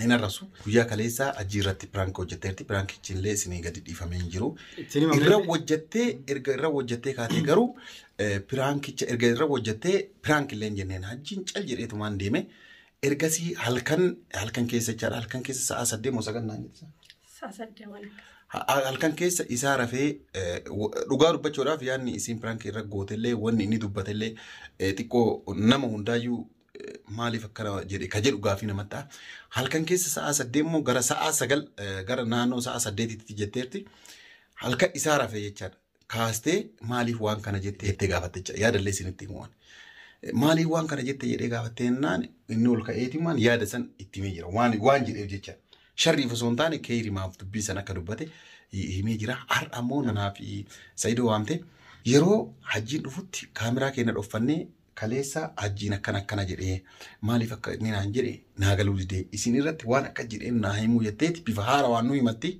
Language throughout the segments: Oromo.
hin arrabsu. Guyyaa kaleessaa ajjii irratti piraank hojjetteerti. Piraankichi illee isinii gadi dhiifamee hin jiru. Ittiin himamee- Irra hojjettee erga irra hojjettee kaatee garuu eh, piraankicha erga irra hojjettee piraank illee hin jenneen hajjiin cal jedheetumaan deeme. Ergasii halkan halkan keessa jechaadha halkan keessa sa'a saddeet moo sagal naan jette. Saasaddeewwan akkas. Ha- halkan keessa isaa rafee eh, w- dhugaa dubbachuudhaaf yaadni isiin piraank irra gootellee wanni inni dubbatellee eh, xiqqoo nama hundaayyuu maaliif akkana jedhe ka jedhu gaafii namatti ta'a. Halkan keessa sa'aa saddeet immoo gara sa'aa sagal eh, gara naannoo sa'aa saddeetitti jetteerti. Halkan isaa rafee jechaadha. Kaastee maaliif waan kana jette jettee gaafatte jecha yaadallee isinitti himuwan. Maaliif waan kana jette jedhee gaafattee jennaan inni ol ka'eetimaan yaada san itti himee jira. Waan waan jedheef jecha. Sharriif osoo hin taane keeyrimaaf dubbii san akka dubbate hi- himee jira. Har'a ammoo nanaa fi Sa'idoo waamte. Yeroo hajjiin dhufutti kaameraa keenya dhoffannee kaleessa hajjiin akkana akkana jedhee maaliif akka inni naan jedhe naa galuu didee isin irratti waan akka jedheen naa himuu jetteeti bifa haara waan nu himatti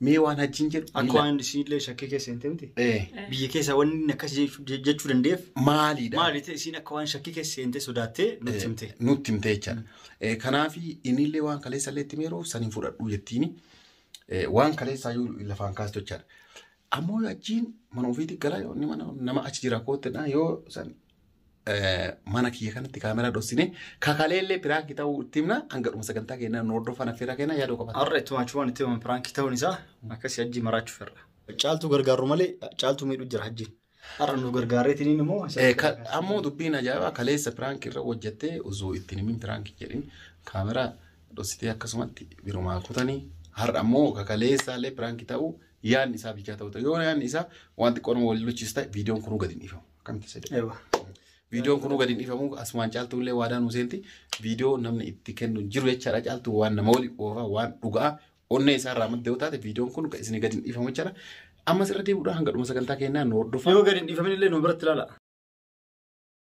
mee waan hajjiin jedhu Akka miila- waan isiinillee shakkii keessa hin ta'in Eh, biyya keessa wanni inni akkas jechuu- jechuu danda'eef maaliidha maali ta'e isiin akka waan shakkii keessa seentee sodaattee nutti himte. nutti himte jechaadha. Eh, Kanaaf innillee waan kaleessa illee itti meeroo san hin fudhadhu jettiini. Eh, Waan kaleessaa yoo lafaan kaastu jechaadha. Ammoo yoo achiin mana ofiitti galaa yoo inni mana nama achi jira koottinaa yoo san eh, mana kiyya kanatti kaameraa dhossine kakaalee illee piraanki ta'uu itti himna hanga dhuma sagantaa keenyaa nu hordofan affeerraa keenyaa yaadoo qabata. Har'a ittuma achumaan itti himan piraankii ta'uun isaa akkasii hajjii maraachuuf irra. Caaltuu gargaarru malee caaltuu miidhu jira hajjiin. Har'a nu gargaareetiin immoo. Eh, ka- Ammoo dubbiin ajaa'ibaa kaleessa piraanki irra hojjettee osoo ittiin himin piraanki jedhin kaameraa dhossitee akkasumatti birumaa kutanii har'a ammoo kakaleessaallee piraanki ta'uu yaadni isaa bilchaa ta'uu ta'e yoo yaadni isaa waan xiqqoo nama waliin luchis ta'e viidiyoon kunuu gadi hin dhiifamu akkamitti isa jedhu Ewa. viidiyoon kunuu gadi hin dhiifamu asumaan caaltuu illee waadaa nuu seenti viidiyoo namni itti kennu hin jiru jechaadha caaltuu waan nama waliin oofaa waan dhugaa onnee isaa irraa madda yoo taate viidiyoon kun isin gadi hin dhiifamu jechaadha ammas irra deebi'uudhaan hanga dhuma sagantaa keenyaa nu hordofaa Yoo gadi hin dhiifamin illee nu biratti ilaala.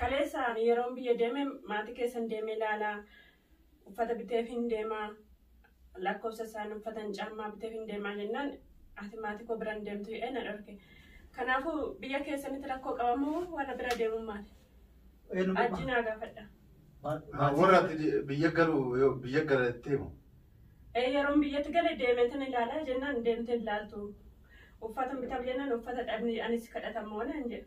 Kaleessa ani yeroon biyya deeme maatii keessan deemee laalaa uffata biteefiin deemaa lakkoofsa isaan uffatan caammaa biteefiin deemaa jennaan ati maatii koo biran deemtu jedhee na dhorke. Kanaafuu biyya keessanitti rakkoo qabamoo warra bira deemuun maali? Ajji naa gaafadha. Warra ati biyya galu biyya galattee moo? Ee yeroon biyyatti gale deemeetan ilaalaa jennaan deemtee ilaaltu. Uffatan bitaaf jennaan uffata dhabni anis kadhatamoo naan jedhe.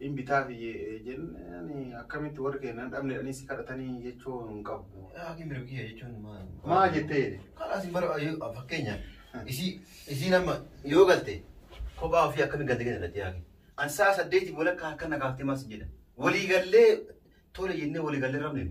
in bitaa fi jennaan akkamitti warri keenya hin dhabne jedhanii si kadhatanii jechuu hin qabu. Haati mirga kiyya jechuun maal? Maa jettee? Kalaas hin bara yoo- fakkeenya isii isiin amma yoo galte kophaa ofii akkamiin galte kenna irratti yaaki. An sa'a saddeetiif walakkaa harka na kaaftee maas jedha. Walii gallee tole jennee walii gallee rabne.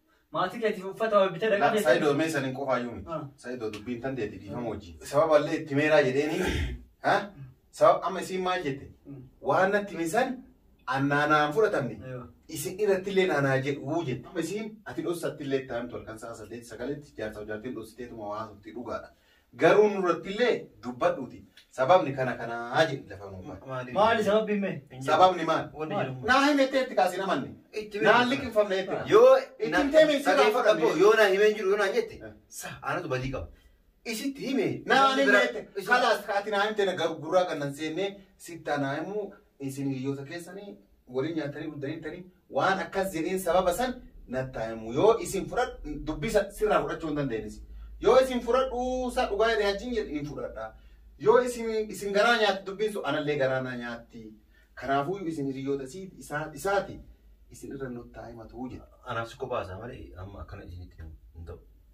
Maatii keetiif uffata waa bitee dhaqaa keessatti. Saidoo mee saniin qofaa iyyuu miti. Ah. Saidoo dubbiin tan deeti dhiifama wajjin. Sababa illee itti meeraa jedheeni. Ha? Sababa amma isiin maal jette? Mm. Waan natti hime san annaanaan fudhatamne. Eewa. Isin irratti illee naanaa jedhu jette. Amma isiin ati dhossatti illee itti aantu halkan sa'a saddeet sagaletti jaarsa jaartiin dhossiteetuma waa haasofti dhugaadha. Garuu nurrattillee dubbadhuuti sababni kana kanaa jedhi lafa nuuf bahe. Maaliif? Maali sababbiin mee? Hin jiru. Sababni maal? Wanni Maali? jiru. Naa himettee itti kaasin amanne. Itti hime. Naan liqimfamne itti kaa. Yoo Itti na- himtee mee sirraa dhageeffadhu fudhanne. abboo, yoo naa himee hin jiru yoo naan jette Eh. sa anatu badii qaba. Isitti hime. Naa namni ani biraa- jette isa- kalaas ati naa himte na gar- gurraa kan nan seenne sitti anaa himu Isin hiriyoota keessanii waliin nyaattanii guddaniittanii waan akkas jedheen sababa san nattaa himu. Yoo isin fudhadhu dubbisa sirraa fudhachuu hin dandeenyis. Yoo isin fudhadhu isaa dhugaa jedhe hajjiin jedhe hin fudhadha. Yoo isin isin garaa nyaatti dubbiin sun anallee garaa na nyaatti. Kanaafuu isin hiriyoota isii- isaa- isaati isin irra nuttaa himatuu jedhe. Anaaf si kophaa isaa malee amma akkana isinitti hin ta'u.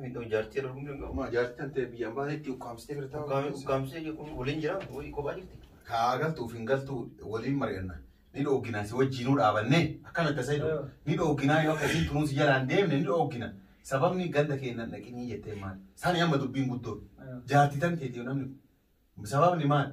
Miidhoo jaartii irra humni qabu. Maa jaartii tan ta'e biyyaan baatetti ukkaamsitee bira taa'u. Ukkaamsee jechuun waliin jira wayii kophaa jirti. Kaa galtuuf hin galtuu waliin mari'anna. Ni dhooggina si wajjiinuu dhaabanne akka metta sayidu ni dhooggina yoo akkasiin tunuu si jalaan deemne ni dhooggina sababni ganda keennan dhaqinii jettee maali. Sani amma dubbiin guddoon jaartii tan ta'e namni sababni maali.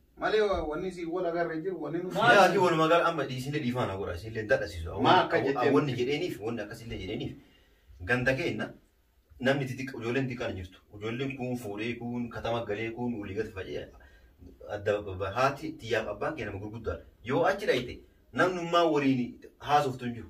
Malee wa- wanni si wal agarre hin jiru wanni nu. Maal? Yaa ati walumaa gala amma dhiisillee dhiifaa na godha isillee dadhasisu. Maa akka jetteen- Wanni jedheeniif wanni akkasillee jedheeniif ganda keenna namni xixiqqa ijoolleen xixiqqaan hin jirtu. Ijoolleen kuun fuudhee kuun katama galee kuun olii gad faca'ee adda babba- haati tiyyaaf abbaan kee nama gurguddaadha. Yoo achi dhayxe namnummaa waliin haasoftu hin jiru.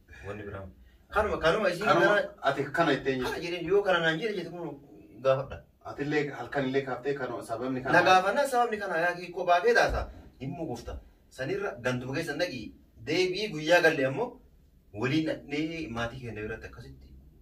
Wanni biraa. Kanuma kanuma isiin Kanuma gara ati kana itti eenyu? kana jedheen yoo kana naan jedhe jettu kun gaafadha. Atillee halkan illee kaaftee kanuma sababni kana. Na gaafannaan sababni kana yaa kee kophaa kee taasa hin mugufta. Sanirra ganduma keessa naqi deebi'ii guyyaa galle ammoo waliin dhaqnee maatii keenya biratti akkasitti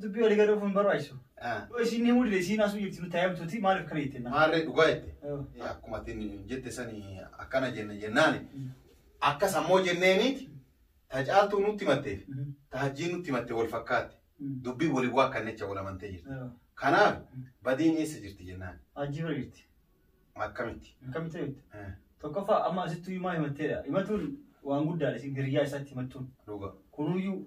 Dubbii walii gadoo hin barbaachisu. Ah, Isin himuu dide isiin asuu jirti nutti hayyamtuuti maaliif kana jettee naa? Maarree dhugaa jette. Oh. Eh, Akkuma atin jette sani akkana jenne jennaani. Mm. Akka sammoo jenneeniiti ta caaltuu nutti matteef Mhm. ta hajjii nutti matte wal fakkaatti. Mm. Dubbii waliin waa kannecha wal amantee jirti. Oh. Kanaaf badiin eessa jirti jennaan Hajjii bira jirti. akkamitti? Akkamitti beektu? Eh, Tokkoffaa amma asittuu himaa himatteedha. Himatuun waan guddaadha isin hiriyyaa isaatti himattuun. Dhugaa. Kunuyyuu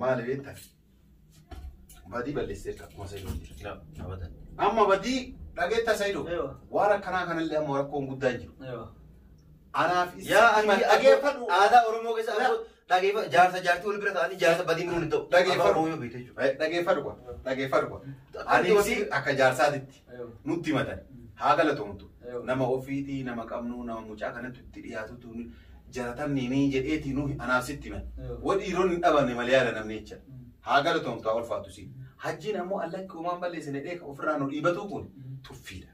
Maali beekta? Badii balleesseerta akkuma Sayidoon. Amma badii dhageetta Sayidoo. Eewa. Waan akkanaa kanallee amma rakkoon guddaa hin jiru. Anaaf isa Yaa ani himan dhageeffadhu. aadaa Oromoo keessa Yaa. ammoo dhageeffa- jaarsa jaartii wal bira ta'anii jaarsa badii muruun hin ta'u. Dhageeffadhu. Afaan Oromoo yoo beekte jechuudha. Eh, Dhageeffadhu kwa. Dhageeffadhu kwa. Akka Ani wanti- isii akka jaarsaatitti nutti himatan. Haa galatoomtu. Eewa. Nama ofiitii, nama qabnu, nama mucaa kanatti itti dhiyaatutu jalatamni ni jedheeti nuhi anaaf sitti man wa dhiiron hin dhabamne mal yaada namni jecha haa galatoomtu haa ulfaatu si hajjiin ammoo allakki umaan balleessine dheeka ofirraa nu dhiibatuu kun tuffiidha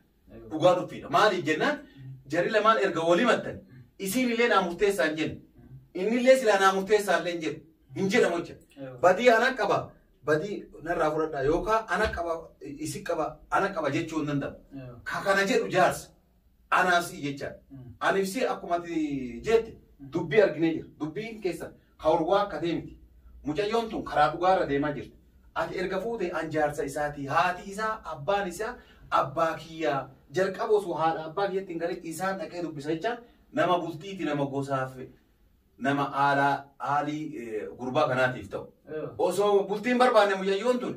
dhugaa tuffiidha maaliif jennaan jarri lamaan erga wali mattan isiin illee naa murteessaa hin jenne inni illee silaa naa murteessaa illee hin jedhu hin jedhamu jecha badii ana qaba badii narraa fudhadhaa yookaan ana qaba isi qaba ana qaba jechuu hin danda'u ka kana jedhu jaarsa Anaa si'i jechaan. Aniif si'i akkuma ati jeette dubbii arginee jira. Dubbiin keessan ka wal waakkatee miti. Mucayyoon tun karaa dhugaa irra deemaa jirti. Ati erga fuutee an jaarsa isaati. Haati isaa abbaan isaa abbaa kiyyaa. Jalqaba osoo haadha abbaa kiyyatti hin galin isaan dhaqee dubbisa jechaan nama bultiiti nama gosaaf nama aalaa aalii eh, gurbaa kanaatiif ta'u. Yoo. Osoo bultiin barbaanne mucayyoon tun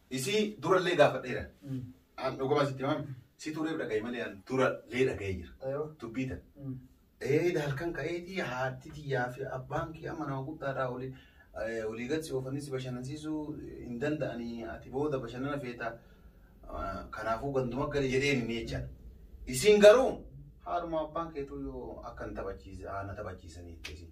Isii durallee gaafadheera. An dhugumaa sitti himaa si tureef dhagaye malee an durallee dhagayee jira. Ayoo. Dubbii tan. Mm. Eeda halkan ka'eetii haatti tiyyaa fi abbaan kee amma nama guddaadhaa olii eh, olii gad si oofanii si bashannansiisuu hin danda'anii ati booda bashannana feeta ah, kanaafuu ganduma gali jedheen inni jecha. Isin garuu haaluma abbaan keetuu yoo akka hin taphachiise haa na taphachiisanii itti isin.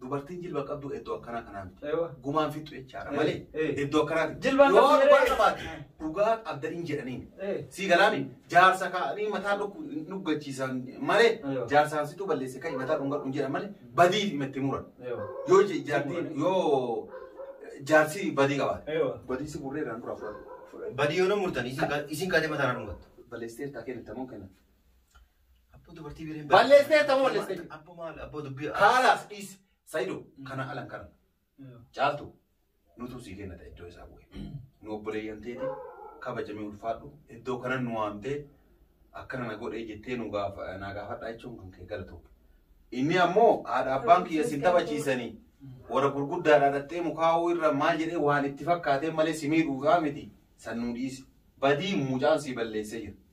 dubartiin jilba qabdu iddoo akkanaa kanaa miti. Ewa. Gumaan fixxu jechaadha Eh, malee eh. iddoo akkanaati. Jilbaan Yoo qabdu dhugaa jedhee. qabaate dhugaa qabda hin jedhaniin. Eh. Sii galaami jaarsa kaa'anii mataa dhukku hin dhuggachiisan malee Ewa. jaarsaan situ balleesse ka'i mataa dhungadhu hin jedhan malee badii fi itti muran. Ewa. Yoo je- jaartiin yoo jaarsi badii qabaate. Ewa. Badii si burree irraan dura fudhatu. Badii yoo na murtan isin kaa- isin kaatee mataa na dhungattu. Balleessee irraa kennitamuu kenna. Abboo dubartii bireen Balleessiteetta moo balleessite? Abboo maal abboo dubbii. Haalaas dhiisi. Sayido kana alan kana. Caaltu nutu sii kenna ta'e iddoo isaa bu'e. Nu obboleeyyan teeti kabajamee ulfaadhu iddoo kanan nu waamtee akkana na godhee jettee nu gaafa naa gaafadhaa jechuun kan kee galatoom. Inni ammoo haadha abbaan kiyya sin taphachiisanii warra gurguddaadhaa dhaxxee mukaa'uu irra maal jedhee waan itti fakkaatee malee si miidhuufaa miti san nu dhiisi. Badii mucaan sii balleessee jira.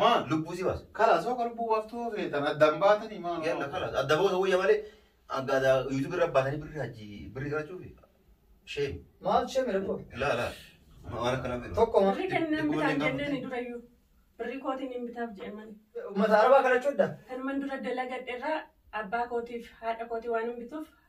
Maal? Lubbuu si baasa. Kalaas hoo lubbuu baaftuu feetan addaan baatanii maal? Yalla kalaas adda boosa wayya malee akka adda yuutuubii irra baasanii birri hajji birri qalachuufi. Sheem. Maal shame rakkoo? Laa laa. Waan akkana birri. Tokko ma- Birri kennan Lubbuu bitaan waliin jenneen gaafatan. durayyuu. Birri kootiin hin bitaaf jedhaman. uummata arabaa kadhachuudha. Kanuman dura dalagadherraa abbaa kootiif haadha kootii waan hin bituuf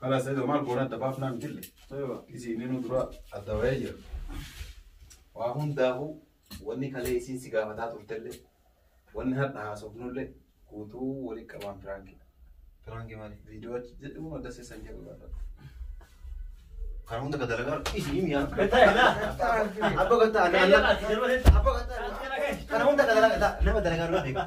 Karaa sadii maal goona adda baafnaa mitille. Isiin inni dura adda bahee jira. Waa hundaafuu wanni kalee isiin si gaafataa turtellee wanni har'a haasofnullee guutuu walii qabaan piraankidha. Piraanki maali? Viidiyoo achi jedhu adda seesan jedhu laata. Kana hunda ka dalagaa isiin yaa. Abba gatta anna anna. Abba gatta kana hunda ka dalagaa nama dalagaa irraa beekaa.